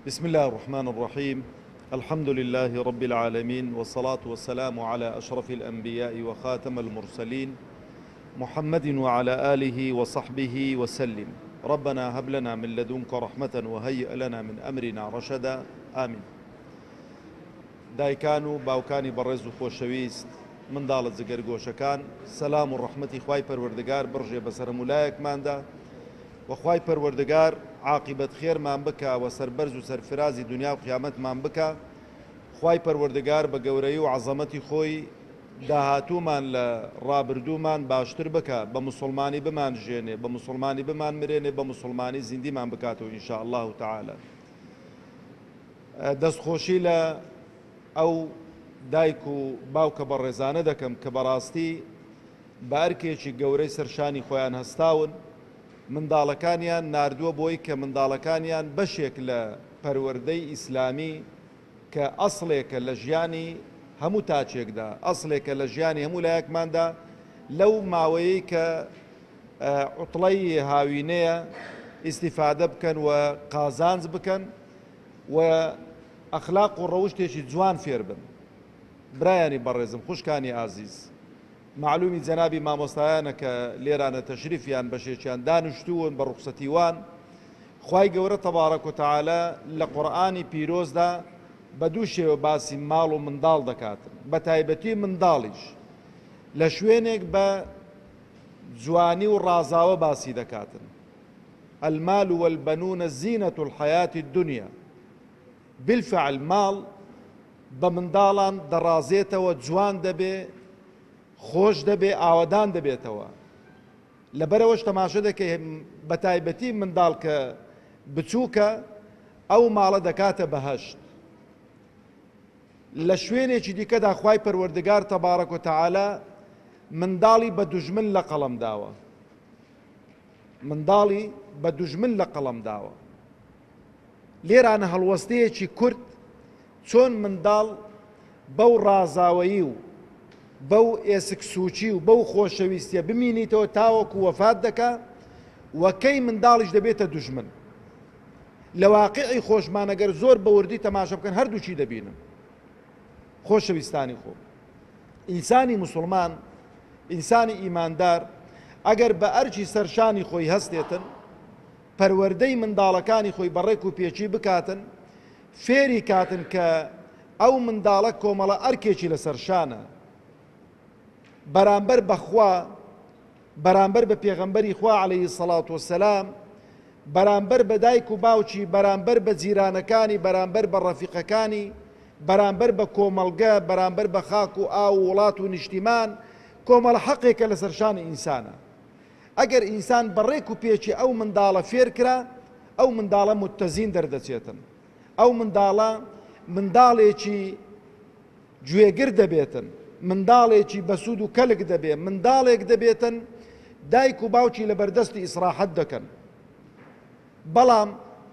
بسم اللە الرحمن الرحیم الحمد للە رب العالمین والصلاة والسلام علی اشرف الانبیاء وخاتم المرسلین محمد وعلی آله وصحبه وسلم ربنا هب لنا من لدنک رحمة وهیئ لنا من امرنا رشدا آمین دایکان و باوکانی بەڕێز و خۆشەویست، منداڵە جگەرگۆشەکان، سەلام و ڕەحمەتی خوای پەروەردگار بڕژێ بەسەر هەموو لایەکماندا، وە خوای پەروەردگار عاقیبەت خێرمان بکا وە سەربەرز و سەرفرازی دونیا و قیامەتمان بکا خوای پەروەردگار بە گەورەی و عەزەمەتی خۆی داهاتوومان لە ڕابردوومان باشتر بکا بە موسڵمانی بمان ژێنێ بە موسڵمانی بمان مرێنێ بە موسڵمانی زیندیمان بکاتەوە ان شاء اللە تعالی دەست خۆشی لە ئەو دایک و باوکە بەڕێزانە دەکەم کە بەڕاستی بە ئەرکێکی گەورەی سەر شانی خۆیان هەستاون، منداڵەکانیان ناردووە بۆی کە منداڵەکانیان بەشێک لە پەروەردەی ئیسلامی کە ئەسڵێکە لە ژیانی هەموو تاکێکدا، ئەسڵێکە لە ژیانی هەموو لایەکماندا، لەو ماوەیەی کە عوتڵەی هاوینەیە ئیستیفادە بکەن و قازانج بکەن و ئەخلاق و ڕەوشتێکی جوان فێر بن. برایانی بەڕێزم، خوشکانی ئازیز. مەعلومی جەنابی مامۆستایانە کە لێرانە تەشریفیان بەشێکیان دانشتوون بە ڕوخسەتی وان خوای گەورە تەبارەک و تعالی لە قورئانی پیرۆزدا بە دوو شێوە باسی ماڵ و منداڵ دەکات بە تایبەتی منداڵیش لە شوێنێک بە جوانی و ڕازاوە باسی دەکاتن المال والبنون زینة الحیات الدنیا بالفعل ماڵ بە منداڵان دەڕازێتەوە جوان دەبێ خۆش دەبێ ئاوەدان دەبێتەوە لەبەرەوەش تەماشە دەکەی بەتایبەتی منداڵ کە بچووکە ئەو ماڵە دەکاتە بەهەشت لە شوێنێکی دیکەدا خوای پەروەردگار تەبارەک و تەعالا منداڵی بە دوژمن لە قەڵەم داوە منداڵی بە دوژمن لە قەڵەم داوە لێرانە هەڵوەستەیەکی کورت چۆن منداڵ بەو ڕازاوەیی و بەو ئێسک سووچی و بەو خۆشەویستیە بمینیتەوە تاوەکو وەفات دەکا و کەی منداڵیش دەبێتە دوژمن لە واقعی خۆشمانەگەر زۆر بەوردی تەماشە بکەن هەردووچی دەبینن خۆشەویستانی خۆ ئینسانی مسلمان ئینسانی ئیماندار ئەگەر بە ئەرچی سەرشانی خۆی هەستێتن پەروەردەی منداڵەکانی خۆی بە ڕێک و پێکی بکاتن، فێری کاتن کە ئەو منداڵە کۆمەڵە ئەرکێکی لەسەر شانە بەرامبەر بە خوا، بەرامبەر بە پێغەمبەری خوا عەلەیهی سەڵات و سەلام، بەرامبەر بە دایک و باوکی، بەرامبەر بە جیرانەکانی، بەرامبەر بە ڕەفیقەکانی، بەرامبەر بە کۆمەڵگە، بەرامبەر بە خاک و ئاو و وڵات و نیشتیمان، کۆمەڵە حەقێکە لەسەر شانی ئینسانە. ئەگەر ئینسان بە ڕێک و پێکی ئەو منداڵە فێر کرا، ئەو منداڵە متزین دەردەچێتن. ئەو منداڵە منداڵێکی گوێگر دەبێتن، منداڵێکی بەسوود و کەلک دەبێ، منداڵێک دەبێتن دایک و باوکی لە بەردەستی ئیسراحەت دەکەن. بەڵام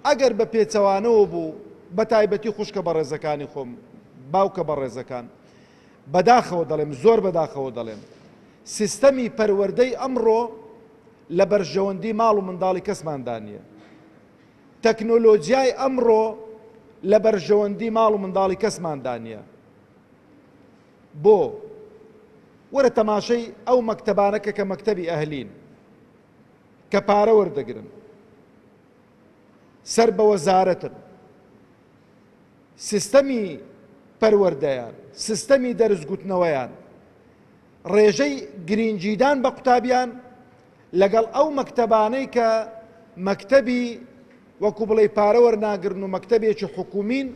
ئەگەر بە پێچەوانەوە بوو، بە تایبەتی خوشکە بەڕێزەکانی خۆم، باوکە بەڕێزەکان، بەداخەوە دەڵێم، زۆر بەداخەوە دەڵێم، سیستەمی پەروەردەی ئەمڕۆ لە بەرژەوەندی ماڵ و منداڵی کەسماندا نییە. تەکنۆلۆجیای ئەمڕۆ لە بەرژەوەندی ماڵ و منداڵی کەسماندا نییە. بۆ؟ وەرە تەماشەی ئەو مەکتەبانە کە کە مەکتەبی ئەهلین کە پارە وەردەگرن سەر بە وەزارەتن سیستەمی پەروەردەیان سیستەمی دەرزگوتنەوەیان ڕێژەی گرینگیدان بە قوتابیان لەگەڵ ئەو مەکتەبانەی کە مەکتەبی وەکو بڵێی پارە وەرناگرن و مەکتەبێکی حکومین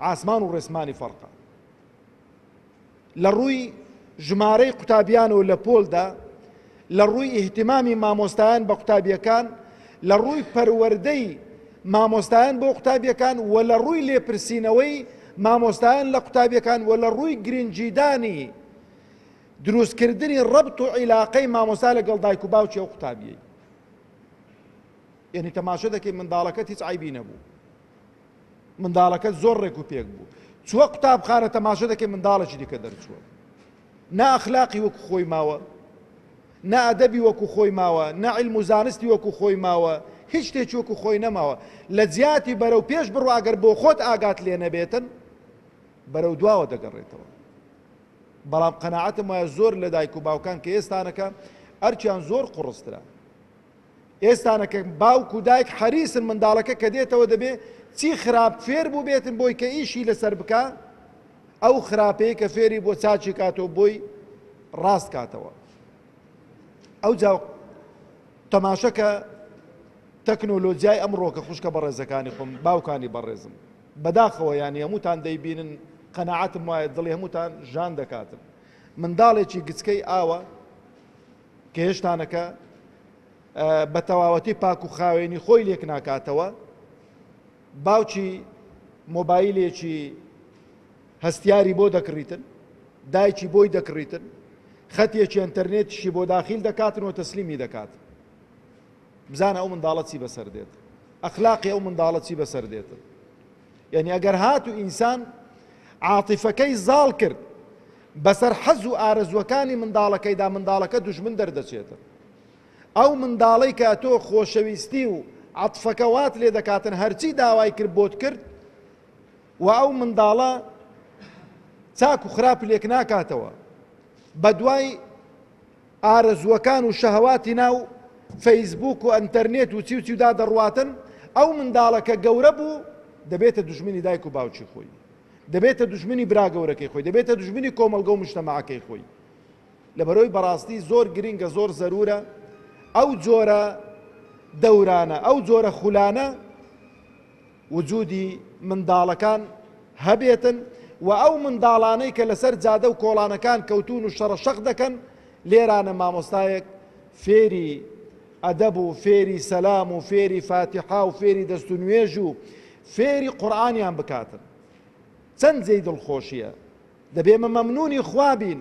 ئاسمان و ڕێسمانی فەرقە لە ڕووی ژمارەی قوتابیانەوە لە پۆلدا لە ڕووی ئیهتیمامی مامۆستایان بە قوتابییەکان، لە ڕووی پەروەردەی مامۆستایان بۆ قوتابییەکان و لە ڕووی لێپرسینەوەی مامۆستایان لە قوتابییەکان و لە ڕووی گرنگیدانی دروستکردنی ڕەبت و عیلاقەی مامۆستا لەگەڵ دایک و باوکی ئەو قوتابیەی یعنی تەماشە دەکەی منداڵەکەت هیچ عیبی نەبوو منداڵەکەت زۆر ڕێک و پێک بوو چووە قوتابخانە تەماشە دەکەی منداڵێکی دیکە دەرچووە نا ئەخلاقی وەکو خۆی ماوە، نا ئەدەبی وەکو خۆی ماوە، نا عیلم و زانستی وەکو خۆی ماوە، هیچ شتێکی وەکو خۆی نەماوە. لە جیاتی بەرەو پێش بڕۆ ئەگەر بۆ خۆت ئاگات لێ نەبێتن بەرەو دواوە دەگەڕێتەوە. بەڵام قەناعەتم وایە زۆر لە دایک و باوکان کە ئێستانەکە ئەرکیان زۆر قوڕسترە. ئێستانە کە باوک و دایک حەریسن منداڵەکە کە دێتەوە دەبێ چی خراپ فێر بووبێتن بۆی کە ئیشی لەسەر بکا ئەو خراپەی کە فێری بۆ چاچی کاتەوە بۆی ڕاست کاتەوە ئەوجا تەماشەکە تەکنۆلۆجیای ئەمڕۆ کە خوشکە بەڕێزەکانی خۆم باوکانی بەڕێزم بەداخەوە یانی هەمووتان دەیبینن قەنەعاتم وایە دڵی هەمووتان ژان دەکاتن منداڵێکی گچکەی ئاوە کهشتانەکە بە تەواوەتی پاک و خاوێنی خۆی لێک ناکاتەوە باوکی مۆبایلێکی هەستیاری بۆ دەکڕیتن دایکی بۆی دەکڕیتن خەتێکی ئەتەرنێتشی بۆ داخیل دەکاتن و تەسلیمی دەکات بزانە ئەو منداڵە چی بەسەر دێت ئەخلاقی ئەو منداڵە چی بەسەر دێتن یعنی ئەگەر هات و ئینسان عاتیفەکەی زاڵ کرد بەسەر حەز و ئارەزوەکانی منداڵەکەیدا منداڵەکە دژمن دەردەچێتە ئەو منداڵی کە تۆ خۆشەویستی و عاتفەکە وات لێ دەکاتن هەرچی داوای کرد بۆت کرد و ئەو منداڵە چاک و خراپ لێک ناکاتەوە بە دوای ئارەزووەکان و شەهواتی ناو فەیسبووک و ئەنتەرنێت و چی و چیدا دەڕواتن، ئەو منداڵە کە گەورە بوو دەبێتە دوژمنی دایک و باوکی خۆی، دەبێتە دوژمنی برا گەورەکەی خۆی، دەبێتە دوژمنی کۆمەڵگە و مشتەمەعەکەی خۆی. لەبەرئەوەی بەڕاستی زۆر گرینگە زۆر زەرورە ئەو جۆرە دەورانە ئەو جۆرە خولانە، وجودی منداڵەکان هەبێتن و ئەو منداڵانەی کە لەسەر جادە و کۆڵانەکان کەوتوون و شەڕە شەق دەکەن لێرانە مامۆستایەک فێری ئەدەب و فێری سەلام و فێری فاتیحا و فێری دەست و نوێژ و فێری قورآانیان بکاتن چەند جێی دڵخۆشیە دەبێمە مەمنونی خوابین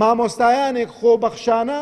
مامۆستایانێک خۆبەخشانە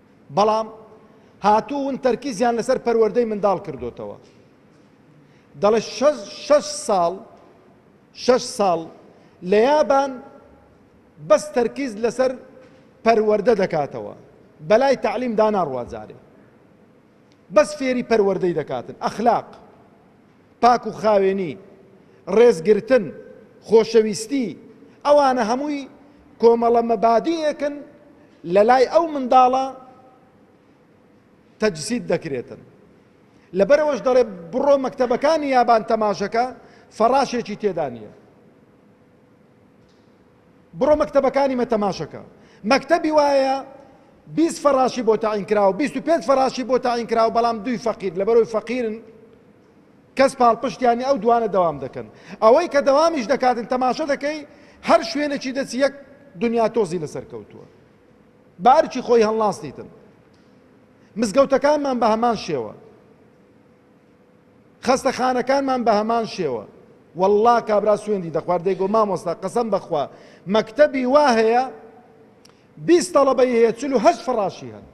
بەڵام هاتوون تەرکیزیان لەسەر پەروەردەی منداڵ کردۆتەوە دەڵێت شەش ساڵ شەش ساڵ لە یابان بەس تەرکیز لەسەر پەروەردە دەکاتەوە بەلای تەعلیم داناڕوات جارێ بەس فێری پەروەردەی دەکاتن ئەخلاق پاک و خاوێنی ڕێز گرتن خۆشەویستی ئەوانە هەمووی کۆمەڵە مەبادیەکن لە لای ئەو منداڵە تەجسید دەکرێتن لەبەرەوەش دەڵێ بڕۆ مەکتەبەکانی یابان تەماشەکە فەڕاشێکی تێدا نیە بڕۆ مەکتەبەکانی مە تەماشەکە مەکتەبی وایە بیست فەڕاشی بۆ تەعین کراوە بیست و پێنج فەڕاشی بۆ تەعین کراوە بەڵام دووی فەقیر لەبەرەوەی فەقیرن کەس پاڵپشتیانی ئەو دوانە دەوام دەکەن ئەوەی کە دەوامیش دەکاتن تەماشە دەکەی هەر شوێنێکی دەچی یەک دنیا تۆزی لەسەر کەوتووە بارکی خۆی هەڵناستیتن مزگەوتەکانمان بە هەمان شێوە خەستەخانەکانمان بەهەمان شێوە. وەڵڵا کابرا سوێندی دەخوارد دەیگۆ مامۆستا قەسەم بەخوا مەکتەبی وا هەیە بیست تەڵەبەی هەیە چل و هەشت فەڕاشی هەن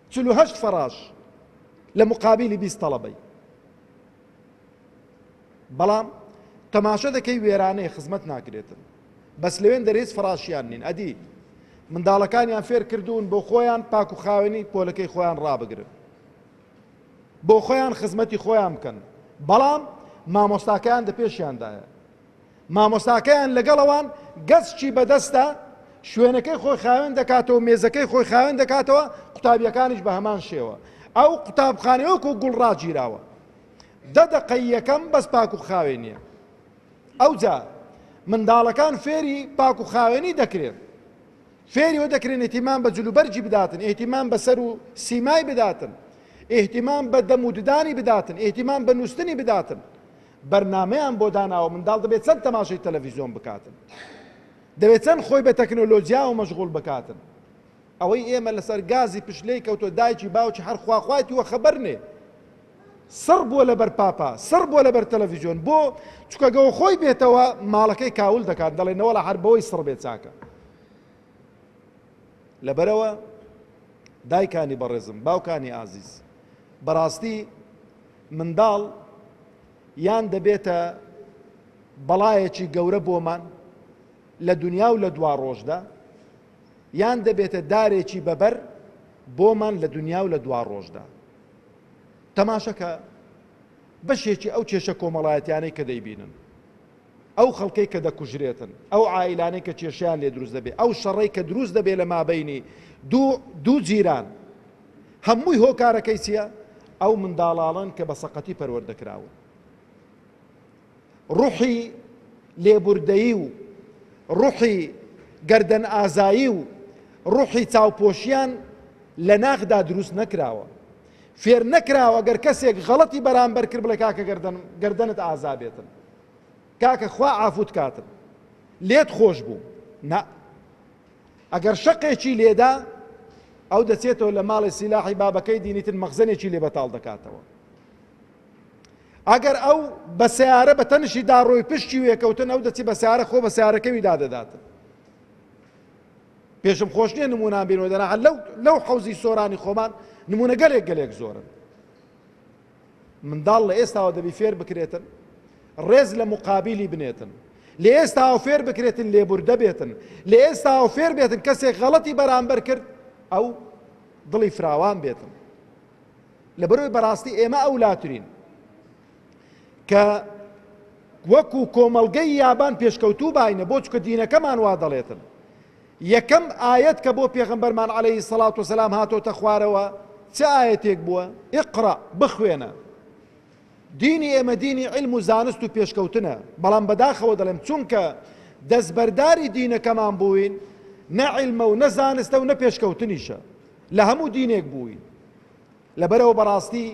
چل و هەشت فەڕاش لە مقابلی بیست تەڵەبەی بەڵام تەماشە دەکەی وێرانەیە خزمەت ناکرێتن بەس لەوێن دەرێز فەڕاشیان نین ئەدی منداڵەکانیان فێر کردوون بۆ خۆیان پاک و خاوێنی پۆلەکەی خۆیان ڕابگرن بۆخۆیان خزمەتی خۆیان بکەن بەڵام مامۆستاکەیان دە پێشیاندایە مامۆستاکەیان لەگەڵەوان گەچکی بەدەستە شوێنەکەی خۆی خاوێن دەکاتەوە مێزەکەی خۆی خاوێن دەکاتەوە قوتابیەکانیش بە هەمان شێوە ئەو قوتابخانەوەک و گوڵ ڕاگیراوە دە دەقەی یەکەم بەس پاک و خاوێ نییە ئەوجا منداڵەکان فێری پاک و خاوێنی دەکرێن فێری ئەوە دەکرێن ئیهتیمام بە جلوبەرگی بداتن، ئیهتیمام بە سەر و سیمای بداتن، ئیهتیمام بە دەم و ددانی بداتن، ئیهتیمام بە نووستنی بداتن. بەرنامەیان بۆ داناوە، منداڵ دەبێ چەند تەماشای تەلەڤیزیۆن بکاتن، دەبێ چەند خۆی بە تەکنۆلۆجیاوە مەشغوڵ بکاتن. ئەوەی ئێمە لەسەر گازی پشت لێی کەوتووە، دایکی باوکی هەر خواخوایتی وەخەبەر نێ. سڕ بووە لەبەر پاپا سڕ بووە لەبەر تەلەفیزیۆن بۆ چکە گەوە خۆی بێتەوە ماڵەکەی کاول دەکات دەڵێ نەوەڵا هەر بەوەی سڕ بێ چاکە لەبەرەوە دایکانی بەڕێزم باوکانی ئازیز بەڕاستی منداڵ یان دەبێتە بەڵایەکی گەورە بۆمان لە دنیا و لە دوا ڕۆژدا یان دەبێتە دارێکی بەبەر بۆمان لە دنیا و لە دوا ڕۆژدا تەماشەکە بەشێکی ئەو کێشە کۆمەڵایەتیانەی کە دەیبینن، ئەو خەڵکەی کە دەکوژرێتن، ئەو عائیلانەی کە کێشەیان لێ دروست دەبێ، ئەو شەڕەی کە دروست دەبێ لە مابەینی دوو دوو جیران، هەمووی هۆکارەکەی چییە؟ ئەو منداڵاڵەن کە بە سەقەتی پەروەردە کراون. ڕۆحی لێبوردەیی و ڕۆحی گەردەنئازایی و ڕۆحی چاوپۆشیان لە ناخدا دروست نەکراوە. فێر نەکراوە گەر کەسێک غەڵەتی بەرامبەر کرد بڵێ کاکە گەردەن گەردەنت ئازا بێتن. کاکە خوا عافوت کاتن. لێت خۆش بوو. نا. ئەگەر شەقێکی لێدا ئەو دەچێتەوە لە ماڵی سیلاحی بابەکەی دینیتن مەخزەنێکی لێ بەتاڵ دەکاتەوە. ئەگەر ئەو بە سیارە بە تەنشی داڕۆی پشتی وێکەوتن ئەو دەچی بە سیارە خۆ بە سیارەکەوی دادەداتن پێشم خۆش نییە نمونان بینەوە دەنا لەو لەو حەوزی سۆرانی خۆمان نمونە گەلێک گەلێک زۆرن منداڵ لە ئێستاوە دەبی فێر بکرێتن ڕێز لە مقابلی بنێتن لە ئێستاوە فێر بکرێتن لێبوردە بێتن لە ئێستاوە فێر بێتن کەسێک غەڵەتی بەرامبەر کرد ئەو دڵی فراوان بێتن لەبەرئەوەی بەڕاستی ئێمە ئەولاترین کە وەکو کۆمەڵگەی یابان پێشکەوتوو باینە بۆ چکە دینەکەمان وا دەڵێتن یەکەم ئاەت کە بۆ پێغمبەرمان عليهەی سەڵات و سەسلام هاتۆتە خوارەوە چ ئاەتێک بووە ئقڕا بخوێنە دینی ئێمە دینی علم و زانست و پێشکەوتنە بەڵام بەداخەوە دەڵێم چونکە دەستبەرداری دینەکەمان بووین نە علمە و نە زانستە و نە پێشکەوتنیشە لە هەموو دینێک بووین لەبەرئەوە بەڕاستی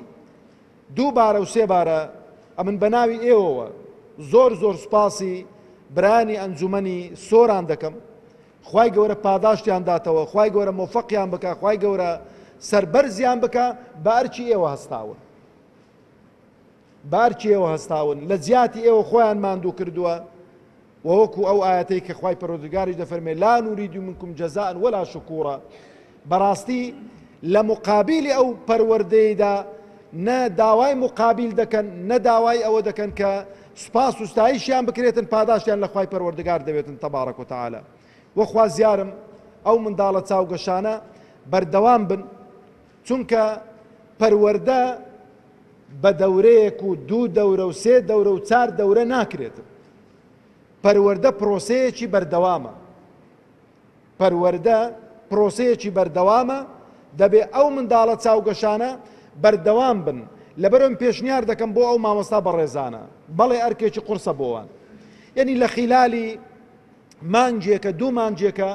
دوو بارە و سێ بارە ئەمن بەناوی ئێوەوە زۆر زۆر سوپاسی برایانی ئەنجومەنی سۆران دەکەم خوای گەورە پاداشتیان داتەوە خوای گەورە مۆفەقیان بکە خوای گەورە سەربەرزیان بکە بە ئەرکی ئێوە هەستاون بارکی ئێوە هەستاون لە جیاتی ئێوە خۆیان ماندوو کردووە، وە وەکو ئەو ئایەتەی کە خوای پەروەردگاریش دەفەرموێت، لا نریدو منکم جزاء ولا شکورا، بەڕاستی لە مقابیلی ئەو پەروەردەیەیدا نە داوای مقابیل دەکەن نە داوای ئەوە دەکەن کە سوپاس و ستایشیان بکرێتن پاداشتیان لە خوای پەروەردگار دەوێتن تبارک و تعالی، وە خوازیارم ئەو منداڵە چاوگەشانە بەردەوام بن. چونکە پەروەردە بە دەورەیەک و دوو دەورە و سێ دەورە و چار دەورە ناکرێت پەروەردە پرۆسەیەکی بەردەوامە پەروەردە پرۆسەیەکی بەردەوامە دەبێ ئەو منداڵە چاوگەشانە بەردەوام بن لەبەرم پێشنیار دەکەم بۆ ئەو مامۆستا بەڕێزانە بەڵێ ئەرکێکی قرسە بۆوان یعنی لە خیلالی مانگێکە دوو مانگێکە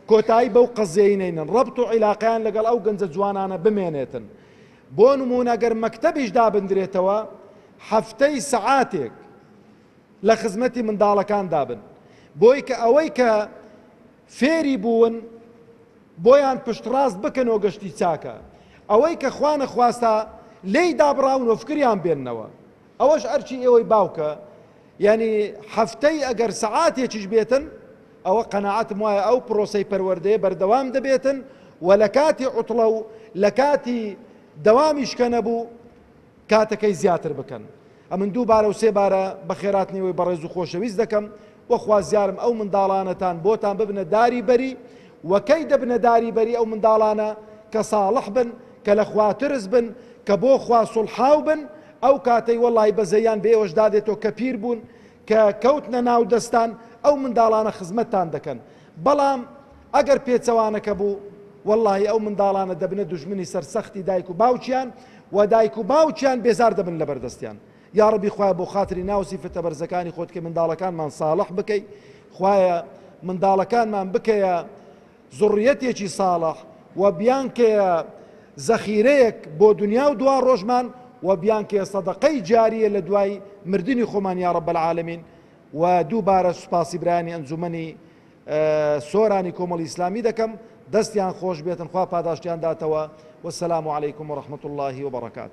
کۆتایی بەو قەزیەی نەینن ڕەبت و عیلاقیان لەگەڵ ئەو گەنجە جوانانە بمێنێتن بۆ نمونە گەر مەکتەبیش دابندرێتەوە هەفتەی سەعاتێک لە خزمەتی منداڵەکان دابن بۆی کە ئەوەی کە فێری بوون بۆیان پشتڕاست بکەنەوە گەشتی چاکە ئەوەی کە خوانە خواستە لێی دابڕاون و فکریان بێننەوە ئەوەش ئەرکی ئێوەی باوکە یانی هەفتەی ئەگەر سەعاتێکیش بێتن ئەوە قەناعەتم وایە ئەو پرۆسەی پەروەردەیە بەردەوام دەبێتن و لە کاتی عوتڵە و لە کاتی دەوامیش کە نەبوو کاتەکەی زیاتر بکەن ئەمن دوو بارە و سێ بارە بە خێراتنیەوەی بەڕێز و خۆشەویست دەکەم وەخوازیارم ئەو منداڵانەتان بۆتان ببنە داری بەری وەکەی دەبنە داری بەری ئەو منداڵانە کە ساڵح بن کە لە خواترس بن کە بۆ خوا سڵحاو بن ئەو کاتەی وەڵاهی بەزەیان بە ئێوەش دادێتۆ کە پیر بوون کە کەوتنە ناو دەستان ئەو منداڵانە خزمەتتان دەکەن بەڵام ئەگەر پێچەوانەکە بوو وەڵاهی ئەو منداڵانە دەبنە دوژمنی سەر سەختی دایک و باوکیان و دایک و باوکیان بێزار دەبن لە بەردەستیان یاڕبی خوای بۆ خاتری ناو سیفەتە بەرزەکانی خۆت کە منداڵەکانمان ساڵح بکەی خوایە منداڵەکانمان بکەیە زوڕیەتێکی ساڵح و بیانکەیە زەخیرەیەک بۆ دونیا و دواڕۆژمان و بیانکەیە سەدەقەی جاریە لە دوای مردنی خۆمان یا رب العالمین و دووبارە سوپاسی برایانی ئەنجومەنی سۆرانی کۆمەڵی ئیسلامی دەکەم دەستیان خۆش بێتن خوا پاداشتیان داتەوە والسلام علیکم ورحمة اللە وبرکاته.